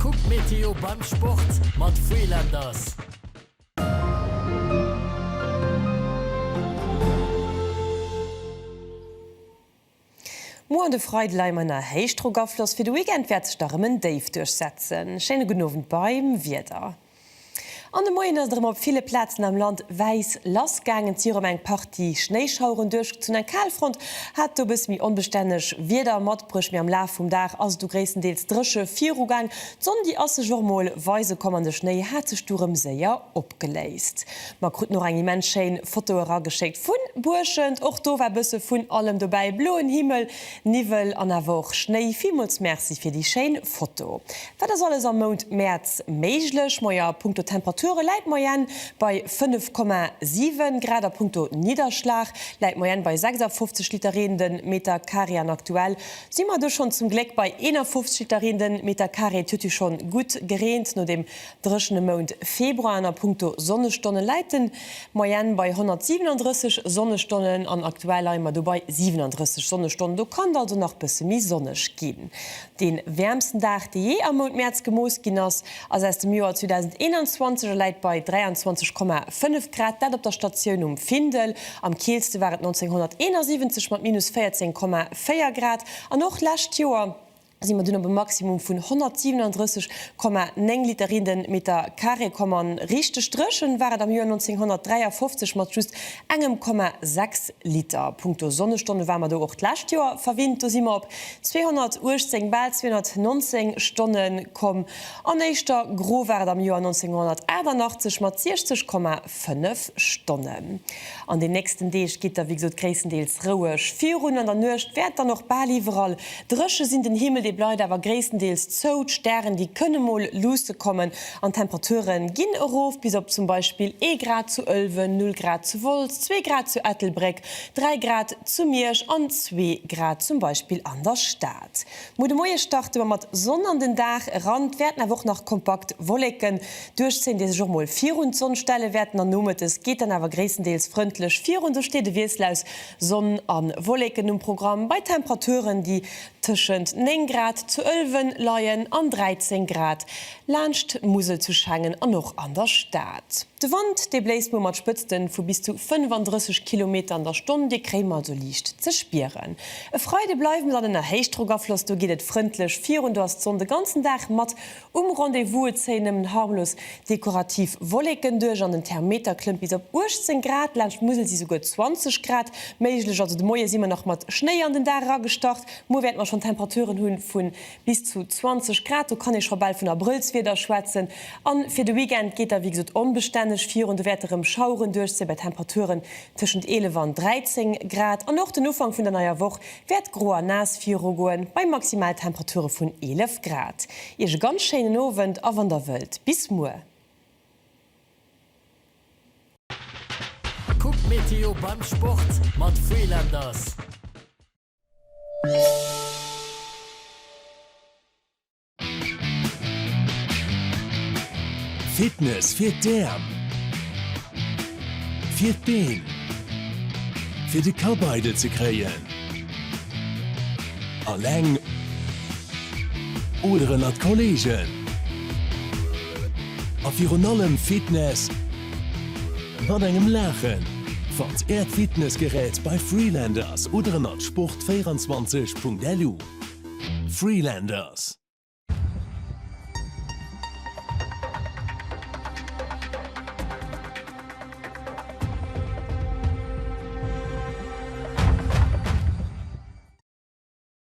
Kuck d'Meteo beim Sport mat Freelanders. Muer an de Freide leie mer nach. Héichdrockafloss fir de Weekend wäert sech da rem en Déif duerchsetzen. Schéine gudden Owend beim Wieder. An de Moien ass et erëm op ville Plazen am Land wäiss lass gaangen. Et si erëm eng Partie Schnéischaueren duerchgezunn. Eng Kalfront hat do e bësse méi onbestänneg Wieder matbruecht, mee am Laf vum Dag ass et du gréisstendeels dréche viru gaang. D'Sonn, déi ass sech och mol weise komm an de Schnéi hat sech du rëm séier opgeléist. Mer kruten och eng immens schéin Foto erageschéckt vu Buerschent. Och do war bësse vun allem dobäi, bloen Himmel, Niwwel an awer och Schnéi. Villmools Merci fir déi schéin Foto. Wat ass alles am Mount Mäerz méiglech? Moie, a punkto Temperature läit d'Moyenne bei 5,7 Grad, a punkto Nidderschlag läit d'Moyenne bei 56 Liter Reen de Metercarré an aktuell si mer do schonn zum Gléck bei 51 Liter Reen de Metercarré. Et huet jo schonn gutt gereent no deem dréchene Mount Februar. An a punkto Sonnestonnen läit de Moyenne bei 137 Sonnestonnen an aktuell leie mer do bei 37 Sonnestonnen. Do kann et also nach bësse méi sonneg ginn. De wäermsten Dag, dee jee am Mount Mäerz gemooss ginn ass, ass aus dem Joer 2021 a läit bei 23,5 Grad, dat op der Statioun um Findel. Am killste war et 1971 mat minus 14,4 Grad an och lescht Joer si mer dunn op e Maximum vun 137,9 Liter in den Meter Carré komm. A richteg dréchen war et am Joer 1953 mat just engem Komma 6 Liter. Punkto Sonnestonne war mer do och d'lescht Joer verwinnt, do si mer op 218, bal 219, Stonne komm. An éischter gro war et am Joer 1988 mat 60,5 Stonnen. An den nächsten Deeg geet da wéi gesot gréisstendeels roueg virun. An der Nuecht wäert et dann och bal iwwerall dréche sinn. Den Himmel dee bleift awer gréisstendeels zou, d'Stären déi kënne mol luusse kommen an d'Temperature ginn erof bis op zum Beispill ee Grad zu Ëlwen, null Grad zu Wolz, zwee Grad zu Ettelbréck 3 Grad zu Miersch an zwee Grad zum Beispill an der Stad. Muer de Moie starte mer mat Sonn an den Dag eran, et wäerten awer och nach kompakt Wolleken duerchzéien, déi sech och mol virun d'Sonn stelle wäerten an nomëttes geet dann awer gréisstendeels frëndlech virun. Esou steet e Wiessel aus Sonn a Wolleken um Programm bei Temperaturen, déi tëschent 9 Grad zu Ëlwen leien an 13 Grad laanscht d'Musel zu Schengen an och an der Stad. De Wand, dee bléist muer mat Spëtzten vu bis zu 35 Kilometer an der Stonn, dee kréie mer also liicht ze spieren. E Freide bleiwe se an ënner Héichdrockafloss, do geet et frëndlech virun, do ass d'Sonn de ganzen Dag mat um Rendez-vous, et zéie nëmmen harmlos dekorativ Wolleken duerch an den Thermeter klëmmt bis op 18 Grad, laanscht d'Musel si souguer 20 Grad méiglech. Also de Moie si mer nach mat Schnéi an den Dag eragestart, muer wäerte mer schonn Temperaturen hu vu Bis zu 20 Grad, do kann ee scho bal vun Abrëllswieder schwätzen. A fir de Weekend geet da wéi gesot onbestänneg virun, do wäerte rëm Schaueren duerchzéie bei Temperaturen tëschent 11 an 13 Grad. An och den Ufank vun der neier Woch wäert gro a naass virugoen, bei Maximaltemperature vun 11 Grad. Iech e ganz schéinen Owend a wann der wëllt, bis muer. Kuckt d'Meteo beim Sport mat Freelanders. Fitness fir d'Äerm, fir d'Been, fir de Kapp eidel ze kréien, alleng oder ënnert Kollegen a virun allem Fitness. Mat engem Laachen! Fannt Äert Fitnessgerät bei Freelanders oder ënnert sport24.lu. Freelanders.